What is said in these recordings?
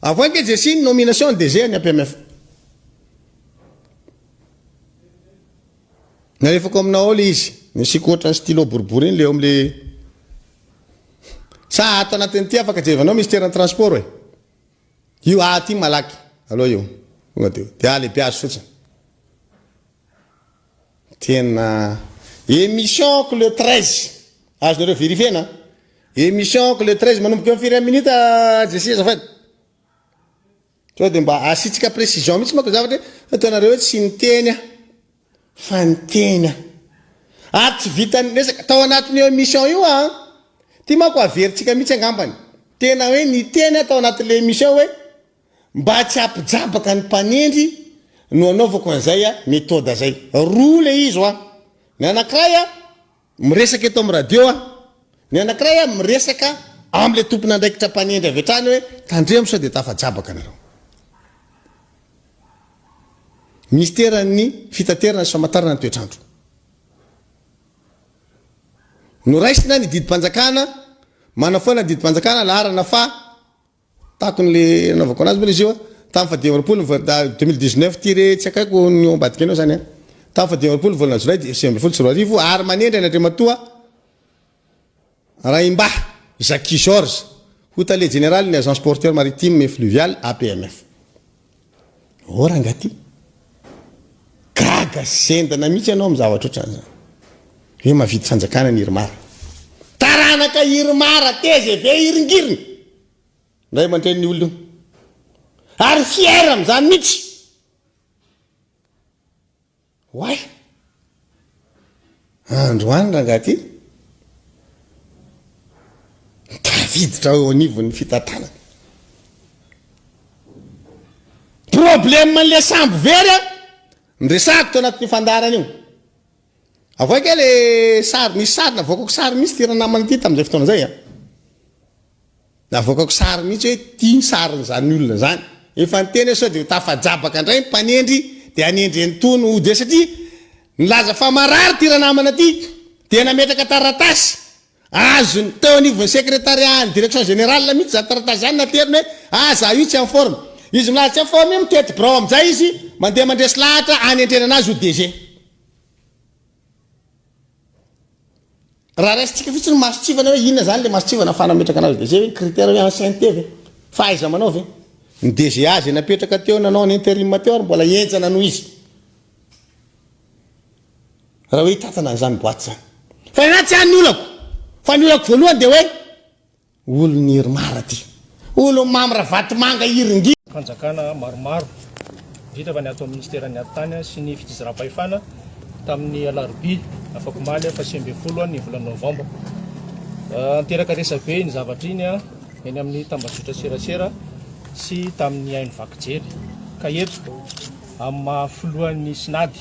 Avoay ange Jesy ny nomination ny DG ny APMF. Nalefako aminao ao le izy. Nasiako ohatra ny stylo boribory iny le eo amle Sa ato anatin'ity afaka jerevanao Mister ny transport e. Io aty malaky aloha io. Tonga de dia lehibe azy fotsiny. Tena Emission ko le treize azonareo verifiena an! Emission ko le treize manomboka eo amin'ny firy amin'ny minute JC azafady? Sao dia mba asiantsika précision mihitsy manko ny zavatra hoe ataonareo hoe tsy niteny aho fa niteny aho ary tsy vitan'ny resaka tao anatin'io emission io an! Ity manko averintsika mihitsy angambany tena hoe niteny aho tao anatin'ilay emission hoe. Mba tsy hampijabaka ny mpanendry no anaovako an'izay méthode zay. Roa ilay izy hoa. Ny anankiray a, miresaka eto amin'ny radio aho. Ny anankiray a, miresaka amin'ilay tompon'andraikitra mpanendry avy hatrany hoe tandremo sao dia tafajabaka nareo. Minisiteran'ny fitaterana sy famatarana ny toetr'andro. Noraisina ny didim-panjakana, manafoana ny didim-panjakana laharana faha Tato ny le anaovako anazy moa le izy io a. Tamin'ny faha dimy amby roapolo ny vol- da deux mille dix neuf ty re tsy akaiko ny eo ambadika anao zany a. Tamin'ny faha dimy amby roapolo ny volana jolay dia sivy ambin'ny folo sy roa arivo ary manendry an' Andriamatoa Raimbahy Jacky Georges ho tale jeneralin'ny Agence Portuaire Maritime et Fluviale, APMF. Ô ranga ty, gaga zendana mihitsy ianao amin'ny zavatra ohatran'ny izany. Hoe mavidy fanjakana ny Irmar. Taranaka Irmar, tgv iringiriny, ray aman-drenin'io olona io. Ary fier amin'izany mihitsy. Oay! Androany rangahy ty tafiditra eo anivon'ny fitantanana. Problème an'ilay sambo very a, niresahako teo anatin'io fandaharana io. Avoay kay le sary, misy sary navoakako sary mihitsy ty ranamana ty tamin'izay fotoana izay a. Navoakako sary mihitsy hoe ity ny sarin'izany olona izany. Efa niteny aho sao dia ho tafajabaka indray ny mpanendry dia hanendry an'itony hody eo satria nilaza fa marary ity ranamana ity dia nametraka taratasy azony teo anivon'ny sekretariahan'ny direction générale mihitsy izany taratasy izany nateriny hoe ah za io tsy en forme. Izy milaza tsy en forme io mitety birao amin'izay izy mandeha mandresy lahatra hanendrena an'azy ho DG. Raha raisintsika fotsiny ny mason-tsivana hoe inona izany ilay mason-tsivana afahana mametraka anazy DG hoe ny critère hoe ancienneté ve? Fahaiza-manao ve? Ny DGA izay napetraka teo nanao ny interim teo ary mbola henjana noho izy. Raha hoe hitantana an'izany boite izany. Fa ny anahy tsy any ny olako. Fa ny olako voalohany dia hoe. Olon i Irmar aty. Olon Mamy Ravatomanga Iringina. Fanjakana maromaro indrindra fa ny ato amin'ny Minisiteran'ny Atitany sy ny Fitsinjaram-pahefana tamin'ny Alarobia afakomaly faha sivy ambin'ny folo ny volana Novambra. Niteraka resabe iny zavatra iny eny amin'ny tambajotra serasera sy tamin'ny haino vaky jery ka eto amin'ny maha filohan'ny Synady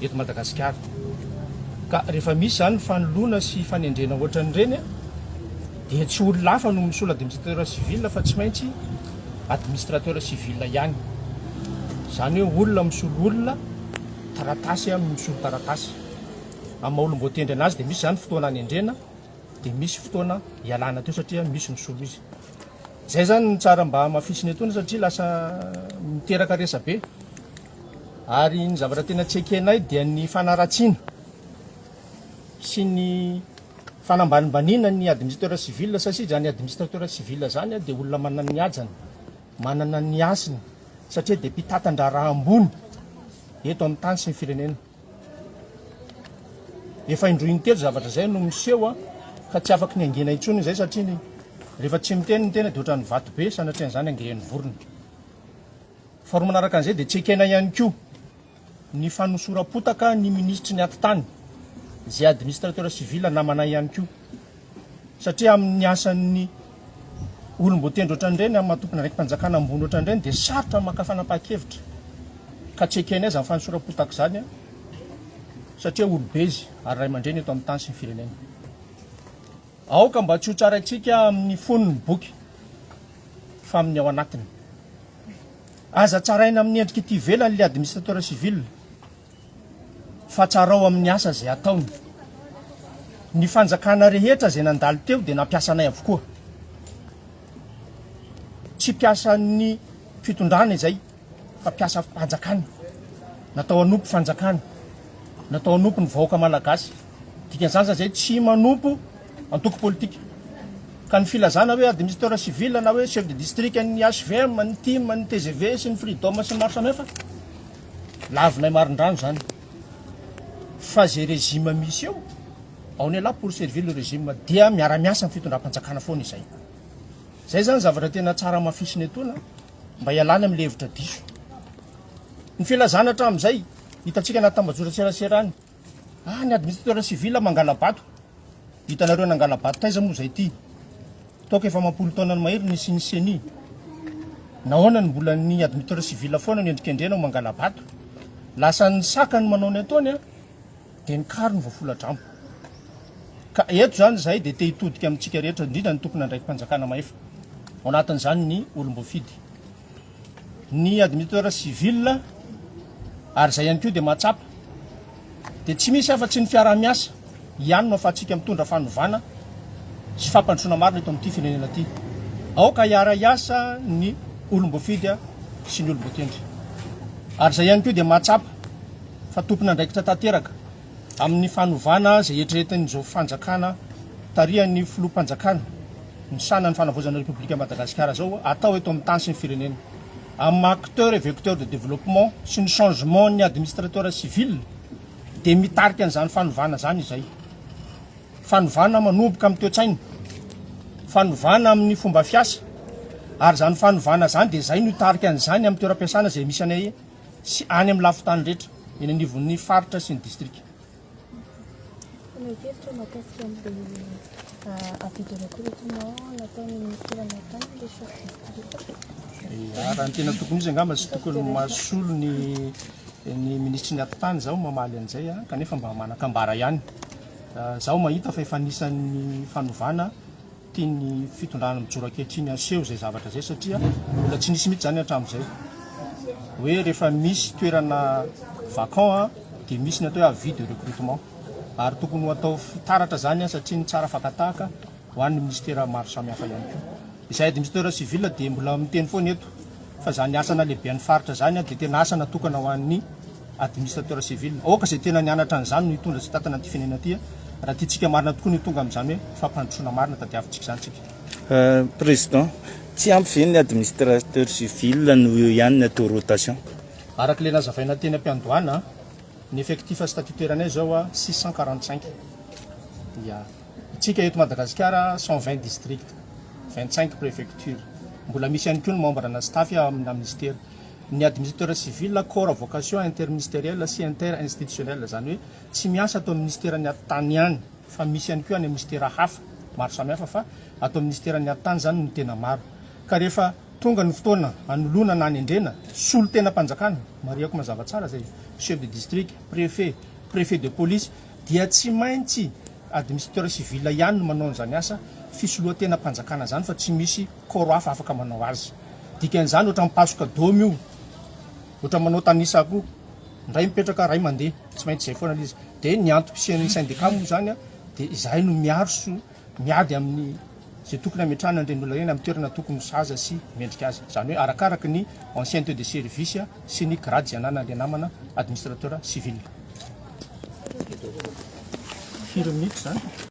eto Madagasikara. Ka rehefa misy izany ny fanoloana sy fanendrena ohatran'ireny dia tsy olona hafa no misolo administrateur civil fa tsy maintsy administrateur civil ihany. Izany hoe olona misolo olona, taratasy misolo taratasy. Amin'ny maha olom-boatendry an'azy dia misy izany fotoana anendrena dia misy fotoana ialana teo satria misy misolo izy. Izay izany no tsara mba hamafisina etoana satria lasa miteraka resabe. Ary ny zavatra tena tsy ekenay dia ny fanaratsiana sy ny fanambanimbaniana ny administrateur civil satsia izany administrateur civil izany dia olona manana ny hajany, manana ny hasiny satria dia mpitantan-draharaha ambony eto amin'ny tany sy ny firenena. Efa indroa intelo zavatra izay no miseho ka tsy afaky ny hangina intsony izay satria ny rehefa tsy miteny ny tena dia ohatran'ny vato be sanatrian'izany angrehin'ny vorona. Faharoa manaraka an'izay dia tsy ekena ihany koa ny fanosoram-potaka ny minisitry ny atitany izay administrateur civil namanay ihany koa satria amin'ny asan'ny olom-boatendry ohatran'ireny amin'ny maha tomponandraiki-panjakana ambony ohatran'ireny dia sarotra ny maka fanapahan-kevitra ka tsy ekenay izany fanosoram-potaka izany satria olobe izy ary ray aman-dreny eto amin'ny tany sy ny firenena. Aoka mba tsy ho tsaraintsika amin' ny fonony boky, fa amin' ny ao anatiny. Aza tsaraina amin' ny endrik' ity ivelany ilay administrateur civil, fa tsarao amin' ny asa izay ataony. Ny fanjakana rehetra izay nandalo teo dia nampiasa anay avokoa. Tsy mpiasan' ny fitondrana izay. fa mpiasa fanjakana, natao hanompo fanjakana, natao hanompo ny vahoaka malagasy. Dikan'izany za zay tsy manompo antoko politika. Ka ny filazana hoe administrateur civil na hoe chef de district an'ny HVM, an'ny tim, an'ny TGV sy ny Freedom sy ny maro samihafa, lavinay marindrano zany. Fa zay régime misy eo, on est là pour servir le régime, dia miara-miasa amin'ny fitondram-panjakana foana izay. Zay zany zavatra tena tsara amafisina etoana. mba hialana amin'ny levitra diso. Ny filazana hatramin'izay, hitantsika anaty tambajotran-tserasera any, ah ny administrateur civil mangala-bato, hitanareo nangala-bato taiza moa izay ity? Toaka efa amam-polo taonany mahery ny nisian'ny ceni. Nahoana no mbola ny administrateur civil foana no endrikendrena ho mangala-bato? Lasan'ny saka ny manao ny ataony an! Dia ny kary no voafoladramo. Ka eto izany izahay dia te hitodika amintsika rehetra, indrindra ny tompon'andraiki-panjakana mahefa, ao anatin'izany ny olom-boafidy, ny admiteur civil, ary izay ihany koa dia mahatsapa dia tsy misy afa-tsy ny fiaraha-miasa ihany no ahafahantsika mitondra fanovana sy fampandrosoana marina eto amin'ity firenena ity. Aoka hiara-hiasa ny olom-boafidy sy ny olom-boatendry. Ary izay ihany koa dia mahatsapa. fa tompon'andraikitra tanteraka amin'ny fanovana izay eritreretin'izao fanjakana tarihan'ny filoham-panjakana misahana ny fanavaozana Repoblikan'i Madagasikara izao atao eto amin'ny tany sy ny firenena amin'ny maha acteur et vecteur de développement sy ny changement-n'ny administrateur civil dia mitarika an'izany fanovana izany izay fanovana manomboka amin'ny toe-tsaina fanovana amin'ny fomba fiasa ary izany fanovana izany dia izay no hitarika an'izany amin'ny toeram-piasana izay misy anay sy any amin'ny lafin-tany rehetra eny anivon'ny faritra sy ny distrika. Nankevitra mahakasika an'ilay avis de recrutement nataon'ny minisitera nahatany ilay chef district. Raha ny tena tokony izy angamba tsy tokony mahasolo ny ny minisitry ny atitany zaho mamaly an'izay kanefa mba manan-kambara ihany. Zaho mahita fa efa anisan'ny fanovana Tian'ny fitondrana mijoro ankehitriny haseho izay zavatra izay satria mbola tsy nisy mihitsy izany hatramin'izay. Hoe rehefa misy toerana vacant dia misy ny atao hoe avis de recrutement. Ary tokony ho atao fitaratra izany satria ny tsara fakan-tahaka ho an'ny minisitera maro samihafa ihany koa. Izahay administrateurs civils dia mbola miteny foana eto fa izany asa nalehibean'ny faritra izany dia tena asa natokana ho an'ny. Administrateur civil. Aoka izay tena nianatra an'izany no hitondra sy hitantana an'ity firenena ity a! Raha tiantsika marina tokoa ny ho tonga amin'izany hoe fampandrosoana marina tadiavintsika izany tsika. Président, tsy ampy ve ny administrateur civil no eo ihany ny atao rotation? Araka ilay nazavaina teny am-piandohana, ny effectif statutaire-nay izao a, six cent quarante cinq. Ya. Tsika eto Madagasikara cent vingt districts, vingt cinq préfectures. Mbola misy ihany koa ny membre-na staff ao amina minisitera. Ny Administrateur Civil, Corps à Vocation Interministérielle sy Inter-Institutionnelle, izany hoe tsy miasa ato amin'ny Minisiteran'ny Atitany ihany fa misy ihany koa any amin'ny Minisitera hafa maro samihafa fa ato amin'ny Minisiteran'ny Atitany izany no tena maro. Ka rehefa tonga ny fotoana hanoloana na hanendrena solontenam-panjakana, marihako mazava tsara izay, Chef de District, Préfet, Préfet de Police, dia tsy maintsy Administrateur Civil ihany no manao an'izany asa fisoloan-tenam-panjakana izany fa tsy misy corps hafa afaka manao azy. Dikan'izany ohatran'ny mipasoka domy io, ohatran'ny manao tanisa koa, indray mipetraka iray mandeha, tsy maintsy izay foana ilay izy. Dia ny antom-pisian'ny syndicat moa izany dia izahay no miarso, miady amin'ny izay tokony hametrahana an'ireny olona ireny amin'ny toerana tokony ho sahaza sy mendrika azy. Izany hoe arakaraka ny ancienneté de service sy ny grade izay ananan'ilay namana administrateur civil. Firy minitra izany?